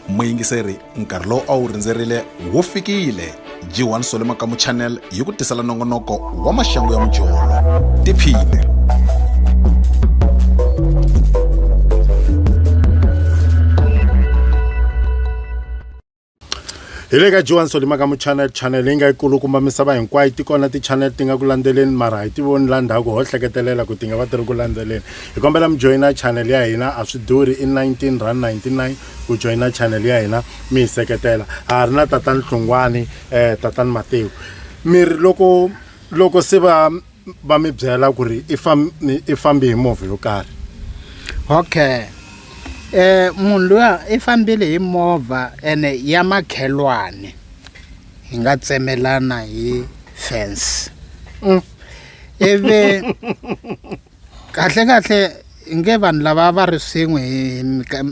muyingiseri nkarhi lowu a wu rindzerile wu fikile g1 sole makamu channel yi ku tisela nongonoko wa maxangu ya mujolo tiphine hi le ka johan solima ka muchannel channel leyi nga yi kulukumba misava hinkwayo ti kona tichannel ti nga ku landzeleni mara hi ti voni la ndhaku ho hleketelela ku ti nga va ti ri ku landzeleni hi kombela mi joyina channel ya hina a swi durhi i 19 rand 99 ku joyina channel ya hina mi hi seketela a ha ri na tatani hlungwani um tatani matiko mi ri loko loko se va va mi byela ku ri i fambi hi movha yo karhi okay eh munhu luya i fambile hi movha ene ya makhelwane hi nga tsemelana hi fence mm. ivi kahle kahle nge vanhu lava va ri swin'we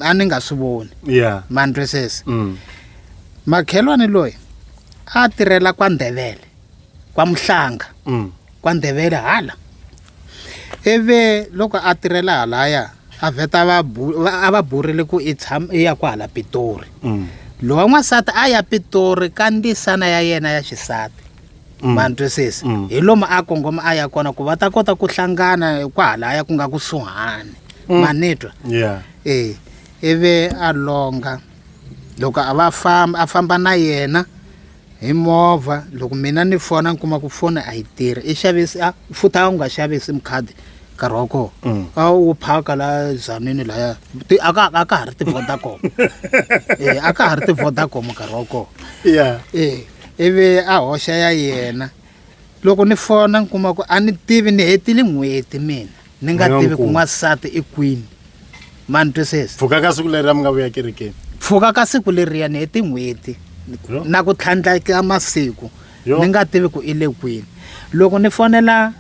a ni nga swi voni yeah man dresses mm. makhelwane loyi a tirhela kwa ndhevele kwamuhlanga mm. kwandebele hala ivi loko a tirhela halaya a vheta a va burile ku i tshama i ya ku hala pitori mm. lowa n'wansati a ya pitori ka ndisana ya yena ya xisati mm. ma ntwisisi mm. hi lomu a kongoma a ya kona ku va ta kota ku hlangana kwahalaya ku nga kusuhani mm. ma ni twa yeah. e ivi a longa loko a va famba a famba na yena hi movha loko mina ni fona ni kuma ku foni a yi tirhi i xavisi a futhi a wu nga xavi sim card nkarhi wa kona mm. a wu phaka la zanini laya a ka a ka ha ri ti-vodacom e a ka ha ri ti-vodacom nkarhi wa kona e ivi a hoxa ya yena loko ni fona ni kuma ku a ni tivi ni hetile n'hweti mina ni nga Moya tivi ku nkulu. n'wansati i kwini ma ni twisisa pfuka ka siku leri a mi nga vuya kerekeni pfuka ka siku leriya ni heti n'hweti Yo. na ku tlhandleka masiku Yo. ni nga tivi ku i le kwini loko ni fonela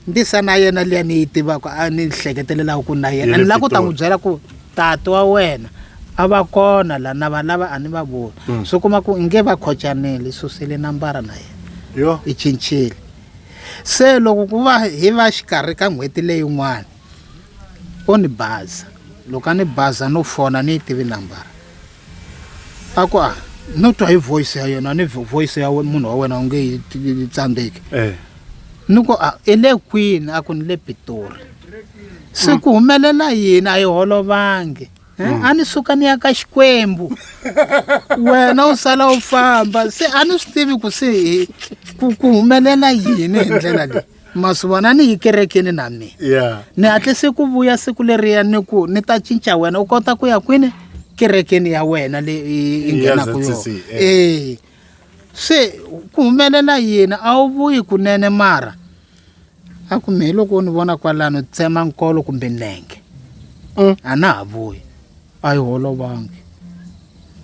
ndisa na yena liya ni yi tivaka a ni hleketelelaku ku na yena ni la ku ta n'wi byela ku tati wa wena a va kona la na va lava a ni va voni mm. swi kuma ku nge va khocanile susile nambara na yena i cincile se loko ku va hi va xikarhi ka n'hweti leyin'wana o ni baza loko a ni baza no fona ni yi tivi nambara a ku a no twa hi voice ya yena ni vo- voice ya we- munhu wa wena u nge yi ti- yi tsandzeki Eh. ni ku a i le kwini a ku ni le pitori se ku humelela yini a yi holovangi Eh, a ni suka ni ya ka xikwembu wena u sala u famba se a ni swi tivi ku se hi- ku ku humelela yini hi ndlela leyi masivona ni yi kerekeni na mina yeah. ni hatlise ku vuya siku leriya ni ku ni ta cinca wena u kota ku ya kwini kerekeni ya wena leyi i nghenaka yona ee eh. se ku humelela yini a wu vuyi kunene mara a ku mehe loko u ni vona kwalano tsema nkolo kumbe nenge mm. a na ha vuyi a yi holovangi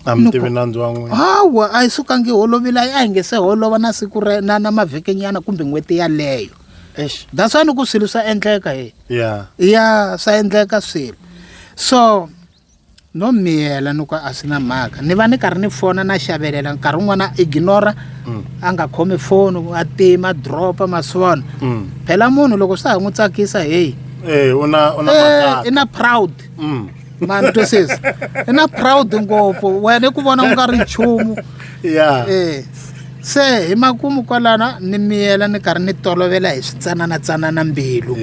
a mi tivi nandzu wa n'wina hawa a yi sukangi holovile a yi a hi nge se holova na siku ra na na mavhekenyana kumbe n'hweti yaleyo Eish. that's why ni ku swilo swa endleka he ya ya swa endleka swilo so no miyela ni ku a swi na mhaka ni va ni karhi ni fona na xavelela nkarhi wun'wana a ignora Mm. a nga khomi foni a tima dropa maswona Mm. phela munhu loko swa ha n'wi tsakisa heyi Eh, una una Eh, makaka. i na proud mm. mani twisisa i na proud ngopfu wena i ku vona u nga ri nchumu ya e se hi makumu kwalana ni miyela ni karhi ni tolovela hi switsananatsanana mbilu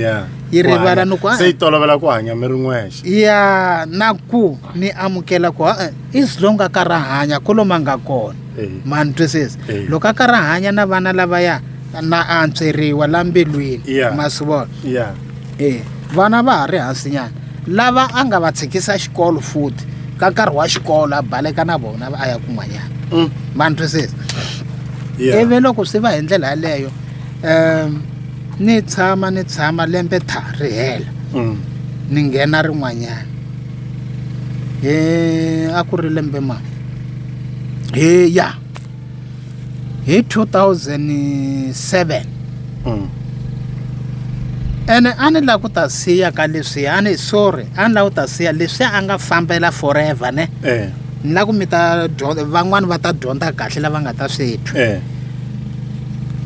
yi rivala ni ku se yi tolovela ku hanya mi ri n'wexe ya na ku ni amukela ku e-e is long a ka ra hanya ku loma nga kona mani twisisa loko a ka ra hanya na vana lavaya na antsweriwa la mbilwini ma swi vona e vana va ha ri hansinyana lava a nga va tshikisa xikolo futhi ka nkarhi wa xikolo a baleka na vona a ya kun'wanyana mm. ma ni twisisa ivi loko swi va hi ndlela yaleyo um ni tshama ni tshama lembe tha ri hela mm. ni nghena rin'wanyana hi a ku ri lembe ma hi ya hi 2007 mm. ene a ni la ku ta siya ka leswi a ni sorry a ni la ku ta siya leswi a nga fambela forever ne eh. ni la ku mi ta van'wani va ta dyondza kahle lava nga ta swi twa eh.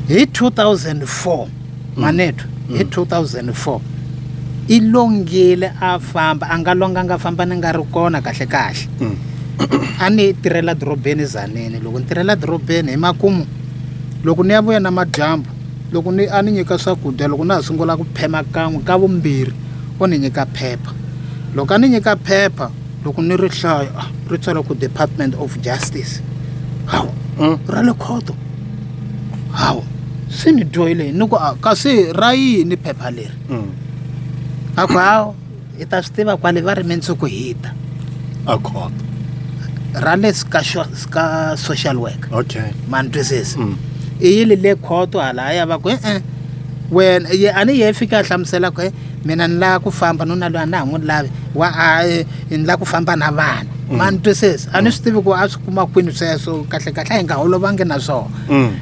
hi 2004 manethu mm. hi 2004 i longile a famba a nga longanga famba ni nga ri kona kahle kahle mm. a ni tirhela dorobeni zanini loko ni tirhela dorobeni hi makumu loko ni ya vuya na madyambu loko ni a ni nyika swakudya loko na ha sungula ku phema kan'we ka vumbirhi o ni nyika phepha loko a ni nyika phepha loko ni ri hlaya ah, ri tswala ku department of justice hawu mm. ra le khoto hawu se ni dyohile ni ku a- kasi ra yini phepha leri Mm. a ku hawu hi ta swi tiva kwale va ri mindzuku hita a khona ra le ska xo- ska social worker okay ma ni twisisa Mm. i yile le khoto halaya va ku e-e wena ye a ni ye fika a hlamusela ku e mina ni lava ku famba nuna loyi a na ha n'wi lavi wa a eh, ni lava ku famba na vana ma ni twisisa a ni swi tivi ku a swi kuma kwini sweswo kahle kahle a hi nga holovangi na swona mm.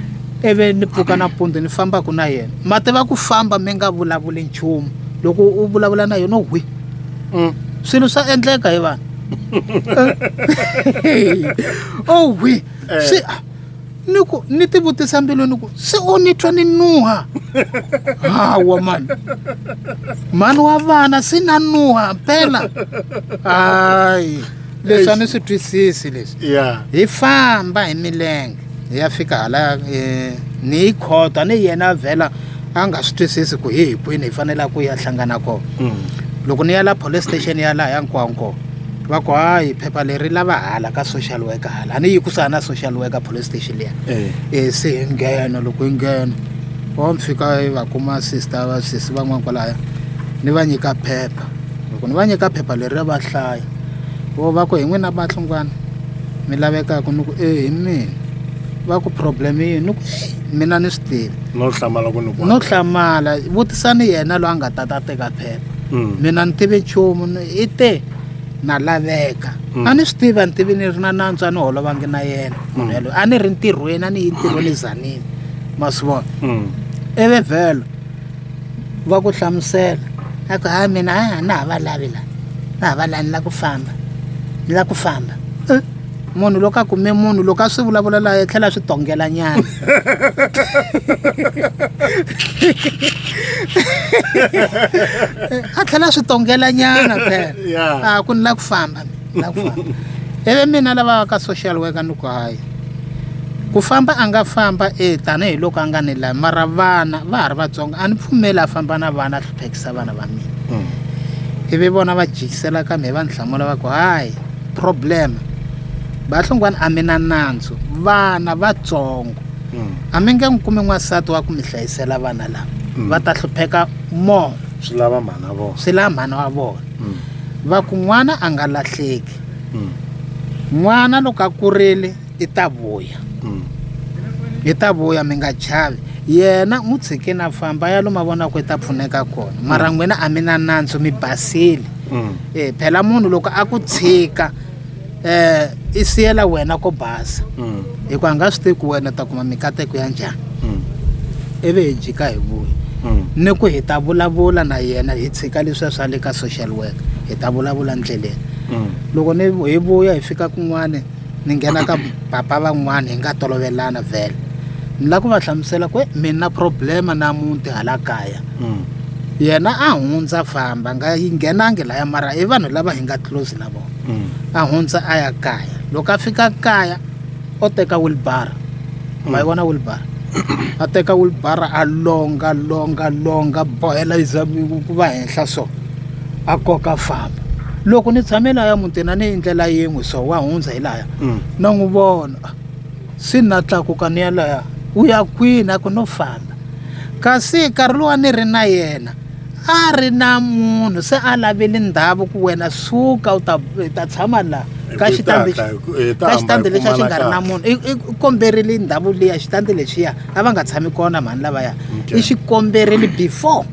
ivi ni pfuka nampundzu ni fambaka na yena ma tiva ku famba mi nga vulavuli nchumu loko u vulavula na yona hwi mm. swilo swa endleka hi vanhu o hwi eh. swi ni ku ni ti vutisa mbilu ni ku se u ni twa ni nuha hawa mani mani wa vana se na nuha mpela hayi leswi a ni swi twisisi leswi yeah. hi famba hi milenge hi ya fika hala eh, ni yi khota ni yena vhela a nga swi twisisi ku hi hi kwini hi fanela ku ya hlangana kona mm. loko ni ya la police station ya laha ya nkwanko va ku hayi phepha leri lava hala ka social worker hala a ni yi kusana na social worker police station liya eh. eh, se hi nghena loko hi nghena va mi fika va kuma sister va sesi van'wana kwalaya ni va nyika phepha loko ni va nyika phepha leri ra va hlaya vo va ku hi n'wina vahlungwana mi lavekaka ni ku e hi mina va ku problem yini ni ku mina ni swi tivi no hlamala ku ni ku no hlamala vutisani yena loyi a nga ta ta teka phepha mm. mina ni tivi nchumu i te na laveka mm. a ni swi tivi a ni tivi ni ri na nantswa ni holovangi na yena munhu mm. yaloyo a ni ri ntirhweni a ni yi ntirhweni zanini ma swi vona eve vhelo va ku hlamusela a ku ha mina a na ha va lavi la na ha va la ni la ku famba ni la ku famba eh, munhu loko a kume munhu loko a swi vulavula laha a tlhela a swi tongela nyana a tlhela a swi tongela nyana phela a ku ni la ku famba na ku famba ivi mina lava ka social worker ni ku hayi ku famba a nga famba e tanihiloko a nga ni lavi mara vana va ha ri vatsongo a ni pfumeli a famba na vana a hluphekisa vana va mina mm. ivi vona va jikisela ka mi va ni hlamula va ku hayi problem vahlongwana a mi na nandzu vana vatsongo mm. a mi nge n'wi kumi n'wansati wa ku mi hlayisela vana lava mm. va ta hlupheka more swi lava mhana vona swi lava mhana wa vona mm. va ku n'wana a nga lahleki mm. n'wana loko a kurile i ta vuya mm. i ta vuya mi nga chavi yena n'wi tshike na famba ya lo mavonaka i ta pfuneka kona mm. mara n'wina a mi na nandzu mi basile mm. e phela munhu loko a ku tshika um i siyela wena ko basa mm. hikuva nga swi tivi ku wena ta kuma mikateko ya njhani mm. ivi hi jika hi vuyi mm. ni ku hi ta vulavula na yena hi tshika leswiya swa le ka social work hi ta vulavula ndleleni loko ni hi vuya hi fika kun'wana ni nghena ka papa van'wana hi nga tolovelana vhele ni lava ku va hlamusela ku mi na problema na muti hala kaya yena a hundza famba nga yi nghenangi laya mara i vanhu lava hi nga close na vona mm. a hundza a ya kaya loko a fika kaya o teka wilbara mm. ma yi vona wilbara a teka wilbara a longa longa longa bohela yi ku va henhla so a koka famba loko ni tshame laya mutini a ni yi ndlela yin'we so wa hundza hi laya mm. na n'wi vona se na tlakuka ni ya laya u ya kwini a ku no famba kasi nkarhi lowa ni ri na yena a ri na munhu se a laveli ndhavu ku wena suka u ta ta tshama la ka xitandi ka xitandi lexi a xi nga ri na munhu i komberile ndhavu liya xitandi lexiya a va nga tshami kona mhani lavaya i xi komberile before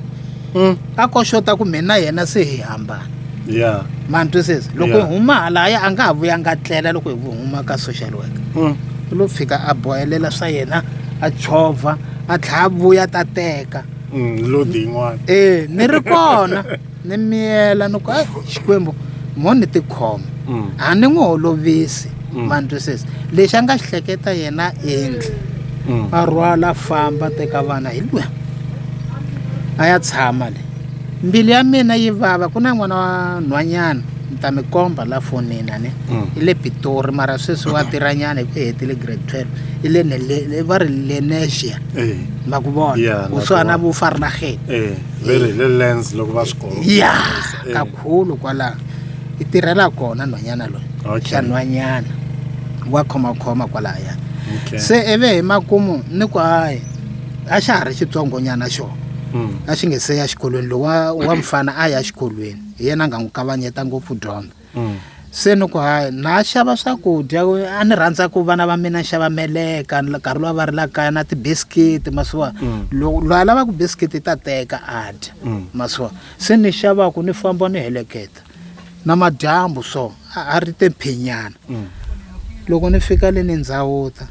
hmm. a koxota ku mina yena se hi hambana yeah mani twisisa loko hi huma halaya a nga ha vuya nga tlela loko hi huma ka social worker mm. u lo fika a bohelela swa yena a chovha a tlhaya a vuya ta teka mm, lodi yin'wana e ni ri kona ni miyela ni ku a xikwembu mo ni tikhoma mm. a ni n'wi holovisi mm. mandwisisi lexi a nga xi hleketa yena endli mm. a rhwala a famba teka vana hi lwiya a ya tshama le mbilu ya mina yi vava ku na n'wana wa nhwanyana ni ta mi komba la fonini a ni mm. i le pitori mara sweswi wa tirhanyana hi ku hetile grade twelve i le va ri lenesia eh. na ku vona yeah, ku swa na vufari na heti eh, very eh. le lens loko va swi kona ya eh. kakhulu kwala i tirhela kona nhwanyana loyi okay. xa nhwanyana wa khomakhoma kwalaya okay. se ivi hi makumu ni ku hayi a xa ha ri xitsongonyana xona hmm. a xi nge se ya xikolweni lowa wa mfana a ya xikolweni hi yena a nga n'wi kavanyeta ngopfu dyondza mm. se ni ku hayi na xava swakudya a ni rhandza ku vana va mina xava meleka nkarhi lowa va ri la kaya na tibiskiti masiwa mm. loko loyi a lavaka biskiti ta teka a dya mm. masiwa se ni xavaku ni famba ni heleketa na madyambu so a ri te mphinyana mm. loko ni fika le ni ndzawuta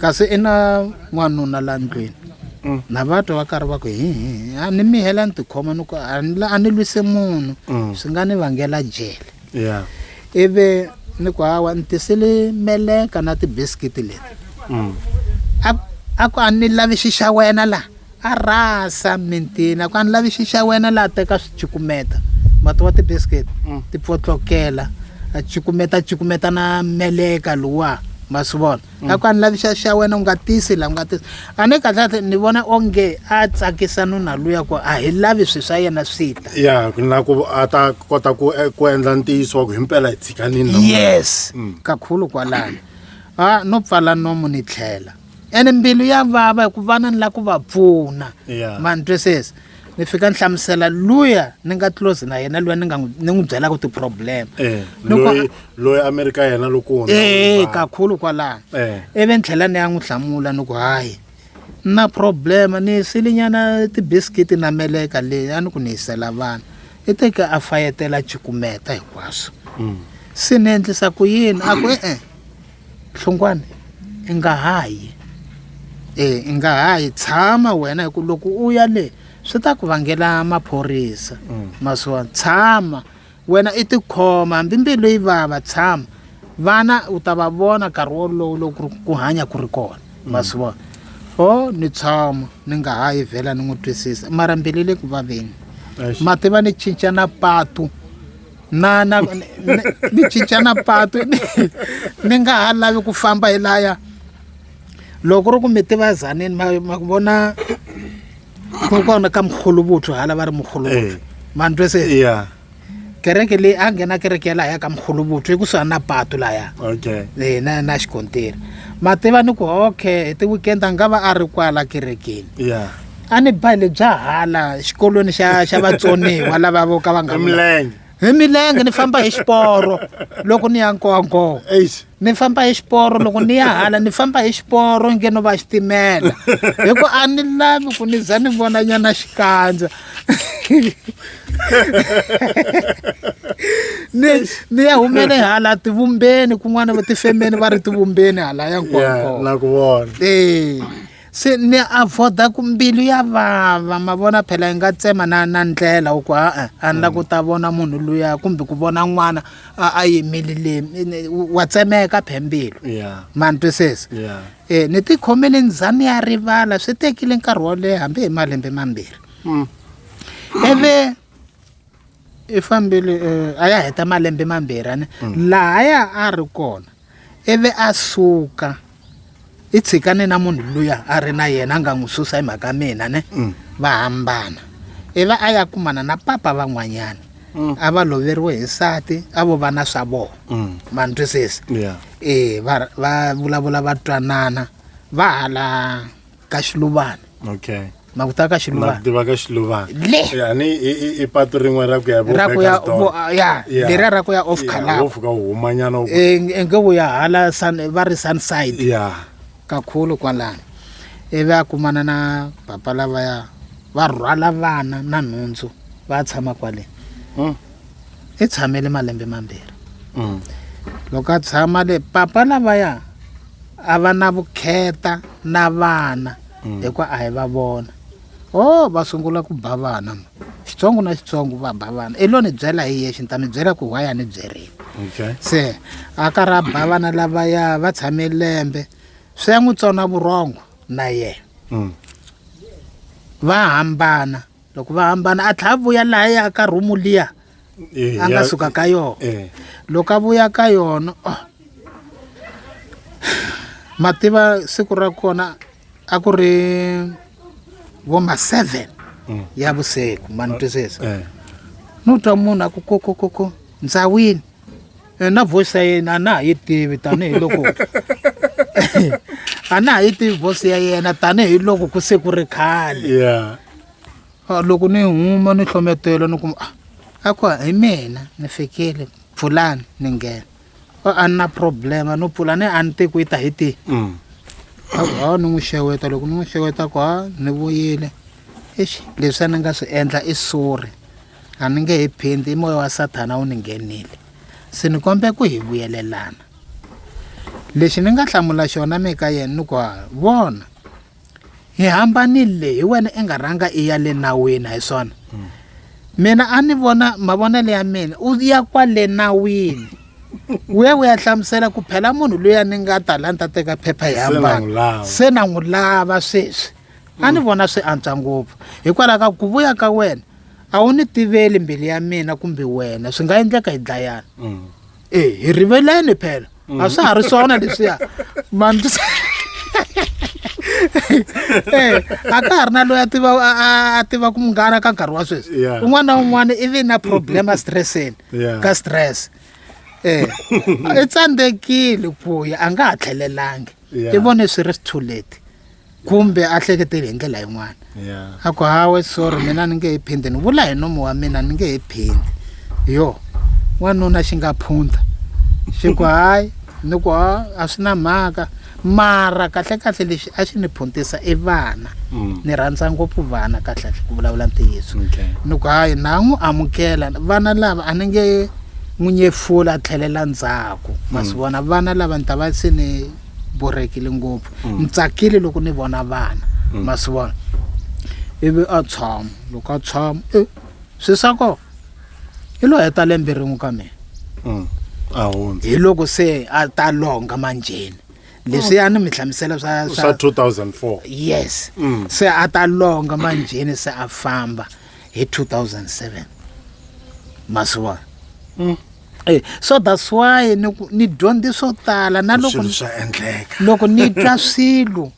kasi i na n'wanuna la ndlwini mm. na va twa va karhi va ku hi a ni mihela ni tikhoma ni ku a ni lwise munhu mm. swi nga ni vangela jele yeah. ivi ni ku hawa ni tisile meleka na tibiskiti leti mm. a ku a ni lavi xi xa wena laha a rasa mintini a ku a ni lavi xi xa wena laha teka swi cukumeta mati wa tibiskiti mm. ti pfotlokela a cukumeta cukumeta na meleka luwa ma swi vona mm. a ku a ni lavi xa xa wena u nga tisi la u nga tisi a ni kahle ni vona onge a tsakisa nuna luya ku a hi lavi swi swa yena swi ta ya na ku a ta kota ku eh, ku endla ntiyiso wa ku himpela hi tshikanini yes mm. kakhulu kwalani a no pfala nomu ni tlhela ene mbilu ya vava hi ku vana ni la ku va pfuna yeah. manitwesesi ni fika ni hlamusela luya ni nga close na yena luya ni nga ni n'wi byelaka ti-problem eh, loyi amerika yena loko ee eh, kakhulu kwalaho eh. ivi ni tlhela ni ya n'wi hlamula ni ku hayi na problem ni silinyana ti-biscuit na meleka leyi a ni ku ni yisela vana i teke a fayetela chikumeta hinkwaswo mm. se ni endlisa ku yini a ku e-e Hlungwane i nga ha yi e i nga ha yi tshama wena hi ku loko u ya le swi ta ku vangela maphorisa mm. masiwa tshama wena i tikhoma hambi mbilu yi vava tshama vana u ta va vona nkarhi wolowo loko ku hanya ku ri kona mm. masiwa o ni tshama ni nga ha yi vhela ni n'wi twisisa mara mbilu le ku vaveni mativa ni cinca na patu na na ni cincana patu ni nga ha lavi ku famba hi laya loko ri ku mi tivazanini ma ma ku vona ku kona ka mkhuluvuthu hala va ri mkhuluvuthu eh. ma ni twese yeah kereke leyi a nghena kereke ya lahaya ka mkhuluvuthu i kusuhani na patu laya okay e, na na xikontiri ma tiva ni ku okay hi ti-weekend a nga va a ri kwala kerekeni yeah a ni ba le bya hala xikolweni xa xa vatsoniwa lava vo ka va nga milenge hi milenge ni famba hi xiporo loko ni ya nkongo ni famba hi xiporo loko ni ya hala ni famba hi xiporo nge no va xitimela hi ku a ni lavi ku ni za ni vona nyana xikandza ni ni ya humele hala tivumbeni kun'wana va tifemeni va ri tivumbeni hala ya nkongo na ku vona ee se ni avoda ku mbilu ya vava ma vona phela yi nga tsema na na ndlela u ku a-e a ni la ku ta vona munhu luya kumbe ku vona n'wana a a yimile le wa tsemeka phe mbilu Yeah. ma ni twisisa Yeah. um ni tikhomele ni za ni ya rivala swi tekile nkarhi wo leha hambi hi malembe mambirhi ivi i fambile uh, a ya heta malembe mambirhi ani mm. laha ya a ri kona ivi a suka i tshikane na munhu luya a ri na yena a nga n'wi susa hi mhaka mina ne mm. va hambana ivi a ya kumana na papa van'wanyana mm. a va loveriwe hi nsati a vo vana swa vona mm. ma ni twisisi e va vulavula va twanana va hala ka xiluvana okay na ku ta ka xiluvana tiva ka xiluvana le yani i patu rin'we ra ku ya ra ku ya ya lera ra ku ya off color wo fika huma nyana e, nge wo ya hala sun va ri sun side ya kakhulu kwalana ivi a kumana na papa lavaya va rhwala vana na nhundzu va tshama kwale hmm. i tshamele malembe mambirhi mm. loko a tshama le papa lavaya a va na vukheta na vana mm. hikuva a hi va vona o oh, va sungula ku ba vana xitsongo na xitsongo va ba vana i lo ni byela hi yexe ni ta mi byela ku why a ni byerile se a karhi a ba vana lavaya va tshame lembe swi ya n'wi tsona vurhongo na yena mm. va hambana loko va hambana a tlha a vuya laha ya ka rhumu liya Eh, a nga ya- suka ka yona Eh. loko a vuya ka yona oh. ma tiva siku ra kona a ku ri vo ma seven Mm. ya vusiku ma ni twisisa Eh. no twa munhu a ku kokokoko ndzawini eh, na voice ya yena a na ha yi tivi tanihiloko a na ha yi tivi voice ya yena tanihiloko ku se ku ri khale yeah Ah, loko ni huma ni hlometela ni kuma ah, a ku hi mina ni fikile pfulani ni nghena Ah, a ni na problema no pfula ni a ni te ku yi ta hi tihi mm. a ku hawa ni n'wi xeweta loko ni n'wi xeweta ku ha ni vuyile exi leswi a ni nga swi endla i suri a ni nge he phindi i moya wa sathana wu ni nghenile se ni kombe ku hi vuyelelana lexi ni nga hlamula xona mi ka yena ni ku vona hi hambanile hi wena i nga rhanga i ya le nawini hi swona mina a ni vona mavonelo ya mina u ya kwale nawini u ya u ya hlamusela ku phela munhu loyi a ni nga talanta teka phepha hi hambana se na n'wi lava sweswi a ni vona swi antswa ngopfu hikwalaho ka ku vuya ka wena a wu ni tiveli mbilu ya mina kumbe wena swi nga endleka hi dlayana mm. e hi riveleni phela a mm. swa ha ri swona leswiya man eh, a ka ha ri na loyi a tiva a tiva ku munghana ka nkarhi wa sweswi un'wana na un'wana i ve na problem a stresseni ka stress um i tsandzekile ku ya a nga ha tlhelelangi i vone swi ri sithuleti kumbe a hleketeli hi ndlela yin'wana yeah. a ku hawe sorry mina ni nge he phindi ni vula hi nomo wa mina ni nge he phindi yo wanuna xi nga phunta xi ku hayi ni ku a a swi na mhaka mara kahlekahle lexi a xi ni phuntisa i vana mm. ni rhandza ngopfu vana kahlekahle ku vulavula ntiyiso ni ku hayi na n'wi amukela vana lava a ni nge n'wi nyefula a tlhelela ndzhaku ma swi mm. vona vana lava ni ta va se ni borhekile ngopfu ni tsakile loko ni vona vana ma swi vona ivi a tshama loko a tshama e swi swa kona i lo heta lembe rin'we ka mina Mm. a hundza hi loko se a ta longa manjheni leswi a ni mi hlamusela swa swa swa 2004 yes Mm. se a ta longa manjheni se a famba hi 2007 ma swi vona Eh, so that's why ni ku- ni dyondze swo tala na loko swilo swa endleka loko ni twa swilo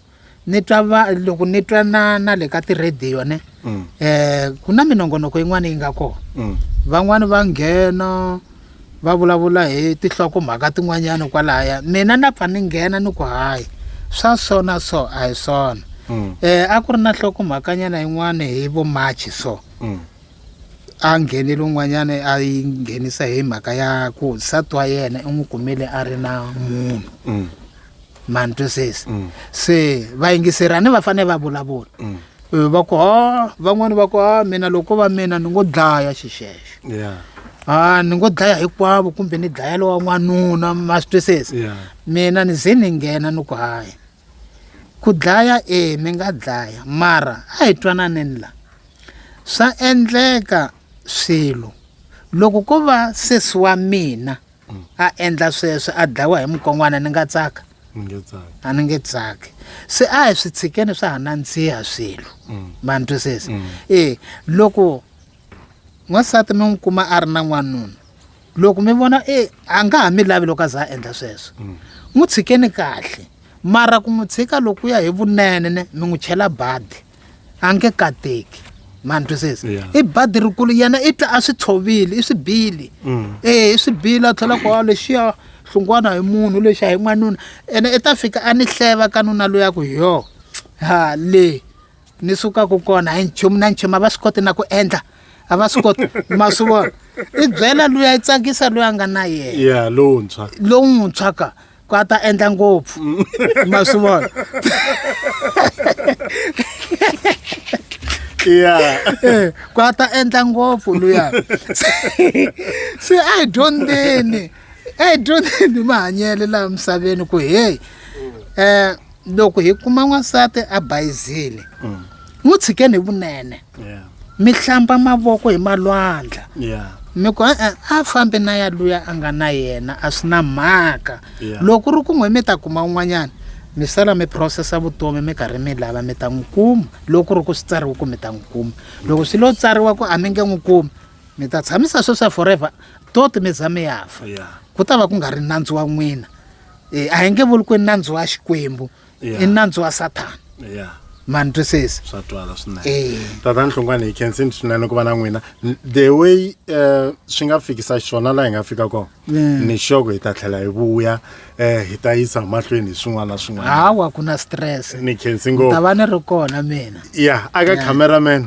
ni twa va loko ni twa na na le ka tirhediyo ne Mm, eh ku na minongonoko yin'wana yi nga kona mm, van'wani va nghena va vulavula hi tihloko mhaka tin'wanyana kwalaya mina na pfa ni nghena ni ku hayi swa so na so a hi swona mm, eh a ku ri na hloko mhakanyana yin'wana hi vo march so mm. a nghenele un'wanyana a yi nghenisa hi mhaka ya ku nsati wa yena i n'wi kumile a ri na munhu mm. mani twisisi mm. se vayingiserani va fanele va vulavula mm. eh, va ku ha van'wani va ku ha mina loko va mina ni ngo dlaya xixexo a ni ngo dlaya hinkwavo kumbe ni dlaya lowa n'wanuna ma swi twisisi mina ni ze ni nghena ni ku hayi ku dlaya e mi nga dlaya mara a hi twananeni la swa endleka swilo loko ko va sesi wa mina a endla sweswo a dlayiwa hi mukon'wana ni nga tsaka a ni nge tsaki se a hi swi tshikeni swa ha nandziha swilo ma ni twisisa e loko n'wansati mi n'wi kuma a ri na n'wanuna loko mi vona e a nga ha mi lavi loko a za a endla sweswo mm. n'wi tshikeni kahle mara ku n'wi tshika loko ya hi vunene ne mi n'wi chela badi a nge kateki mani twisisa i badi rikulu yena i tla a swi tshovile i swi bili mm. e i swi bili a tlhela ku a lexiya hlungwana hi munhu lexi a hi n'wanuna ene i ta fika a ni hleva ka nuna loyaku hi yo ha le ni sukaka kona hi nchumu na nchumu a va swi koti na ku endla a va swi koti ma swi vona i byela loyi a yi tsakisa loyi a nga na yena ya lowuntshwa lowuntshwa ka ku a ta endla ngopfu mm. ma swi vona ya eh, ku a ta endla ngopfu luya se a hi dyondzeni a hi dyondzeni mahanyelo laha misaveni ku heyi um eh, loko hi kuma n'wansati a bayizile mm. n'wi tshikeni hi vunene mi hlamba mavoko hi malwandla mi ku e-e a fambi na ya luya a nga na yena a swi na mhaka loko ri kun'we mi ta kuma un'wanyana mi sala mi processa vutomi mi karhi mi lava mi ta n'wi kuma loko ri ku swi tsariwe ku mi ta n'wi kuma loko swi lo tsariwa ku a mi nge n'wi kumi mi ta tshamisa sweswa forever toti mi za mi ya fa ku ta va ku nga ri nandzu wa n'wina Eh, a hi nge vuli ku i nandzu wa xikwembu Yeah. i nandzu wa sathana ya ma ni twisisa swa twala Eh. swinene tatani hlongwane hi khensini swinene ku va na n'wina N- the way um swi nga fikisa xiswona laha hi nga fika kona Yeah. ni xoko hi ta tlhela hi vuya um hi ta yisa mahlweni hi swin'wana na swin'wana hawa ku na stress ni khensi ni ta ngopfu va ni ri kona mina ya aka Yeah. cameraman